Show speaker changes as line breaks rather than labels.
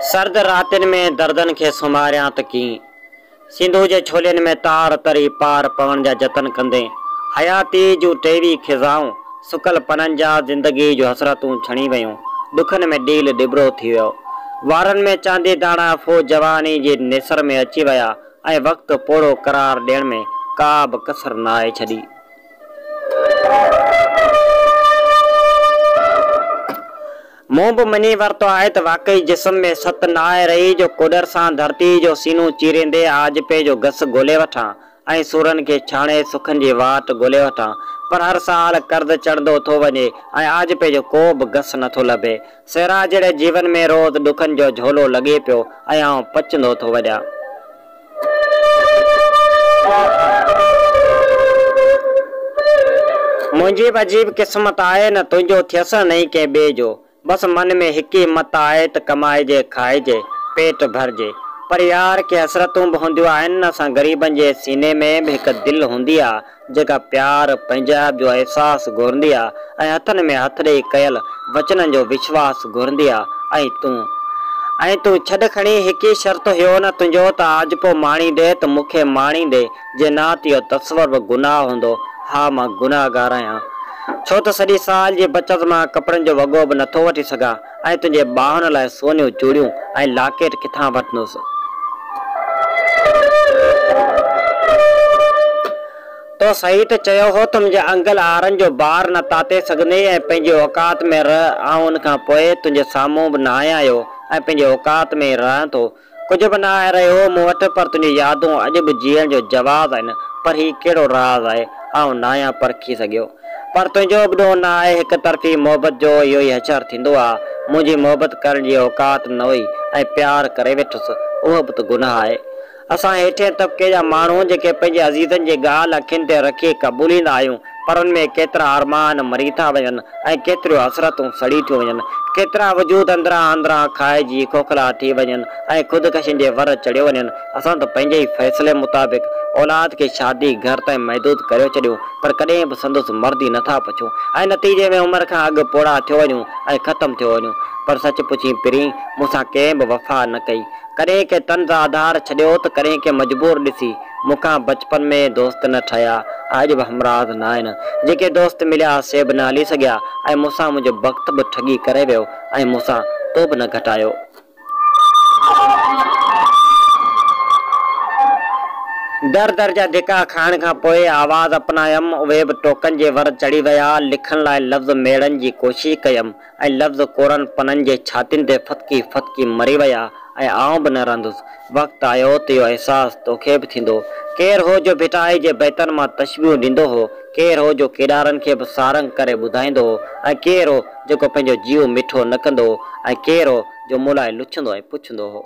سرد راتين ۾ دردن کي سنواريان ته ڪيئن؟ سنڌوء جي ڇولين ۾ تار تري پار پوڻ جا جتن ڪندي، حياتيء جون ٽيوي خزائون، سڪل پنن جا زندگيء جون حسرتون ڇڻي ويون، ڏکن ۾ ڏيل ڏٻرو ٿي ويو. وارن ۾ چاندي داڻا ڦوهه جوانيء جي نيسر ۾ اچي ويا. ۽ وقت پوڙهو قرار ڏيڻ ۾ ڪا به ڪسر ناهي ڇڏي. مون به مڃي ورتو آهي ته واقعي جسم ۾ ست ناهي رهي جو ڪوڏر سان ڌرتيء جو سينو چيريندي آجپي جو گس ڳولي وٺان ۽ سورن کي ڇاڻي سکن جي واٽ ڳولي وٺان پر هر سال قرض چڙهندو ٿو وڃي ۽ آجپي جو ڪو به گس نٿو لڀي. سيران جهڙي جيون ۾ روز ڏکن جو جهولو لڳي پيو ۽ آئون پچندو ٿو وڃان. منهنجي به عجيب قسمت آهي نه تنهنجو ٿيس نه ئي ڪنهن ٻئي جو. بس من ۾ هڪ ئي مت آهي ته ڪمائجي کائجي، پيٽ ڀرجي. پر يار ڪي حسرتون به هونديون آهن نه اسان غريبن جي سيني ۾ به هڪ دل هوندي آ. جيڪا پيار، پنهنجائپ جو احساس گهرندي آ ۽ هٿن ۾ هٿ ڏيئي ڪيل وچنن جو وشواس گهرندي آ ۽ تون ۽ تون ڇڏ کڻي هڪ ئي شرط هيو نه تنهنجو ته آجپو ماڻيندي ته مون کي ماڻيندي جي نه ته اهو تصور به گناهه هوندو ها مان گناهگار آهيان ڇو ته سڄي سال جي بچت مان ڪپڙن جو وڳو به نٿو وٺي سگهان آء تنهنجي ٻانهن لاء سونيون چوڙيون ۽ لاڪيٽ ڪٿان وٺندس؟ تو صحيح ته چيو هو ته منهنجي انگل آرن جو بار نه تاتي سگهندي ۽ پنهنجي اوقات ۾ رهه، آئون ان کان پوء تنهنجي سامهون به ناهيان اهو ۽ پنهنجي اوقات ۾ ئي رهان ٿو. ڪجهه به نه آهي رهيو مون وٽ پر تنهنجون يادون اڄ به جيئڻ جو جواز آهن پر هي ڪهڙو راز آهي آئون ناهيان پرکي سگهيو پر تنهنجو به ڏوهه نه آهي هڪ طرفي محبت جو اهو ئي حشر ٿيندو آ منهنجي محبت ڪرڻ جي اوقات نه هئي ۽ پيار ڪري ويٺس اهو به ته گناهه آهي اسان هيٺين طبقي جا ماڻهو جيڪي پنهنجي عزيزن جي ڳالهه اکين تي رکي قبوليندا آهيون پر ان ۾ ڪيترا ارمان مري ٿا وڃن ۽ ڪيتريون حسرتون سڙي ٿيون وڃن، ڪيترا وجود اندران اندران کائجي کوکلا ٿي وڃن ۽ خودڪشين جي ور چڙهيو وڃن، اسان ته پنهنجي ئي فيصلي مطابق اولاد کي شادي گهر تائين محدود ڪريو ڇڏيون پر ڪڏهن به سندس مرضي نه ٿا پڇون ۽ نتيجي ۾ عمر کان اڳ پوڙها ٿيو وڃون ۽ ختم ٿيو وڃون پر سچ پڇين پرين مون سان ڪنهن به وفا نه ڪئي ڪڏهن ڪنهن طنز آڌار ڇڏيو ته ڪڏهن ڪنهن مجبور ڏسي مون کان بچپن ۾ دوست نه ٺهيا ۽ اڄ به همراز ناهن. جيڪي دوست مليا سي به نه هلي سگهيا ۽ مون سان منهنجو بخت به ٺڳي ڪري ويو ۽ مون سان تو به نه گهٽايو. در در جا ڌڪا کائڻ کان پوء آواز اپنايم، اهي به ٽوڪن جي ور چڙهي ويا. لکڻ لاء لفظ ميڙڻ جي ڪوشش ڪيم. ۽ لفظ ڪورن پنن جي ڇاتين تي ڦٿڪي ڦٿڪي مري ويا ۽ آئون به نه رهندس. وقت آيو ته اهو احساس توکي به ٿيندو. ڪير هو جو ڀٽائي جي بيتن مان تشبيهون ڏيندو هو، ڪير هو جو ڪيڏارن کي به سارنگ ڪري ٻڌائيندو هو ۽ ڪير هو جيڪو پنهنجو جيئو مٺو نه ڪندو هو ۽ ڪير هو جو مون لاء لڇندو ۽ پڇندو هو.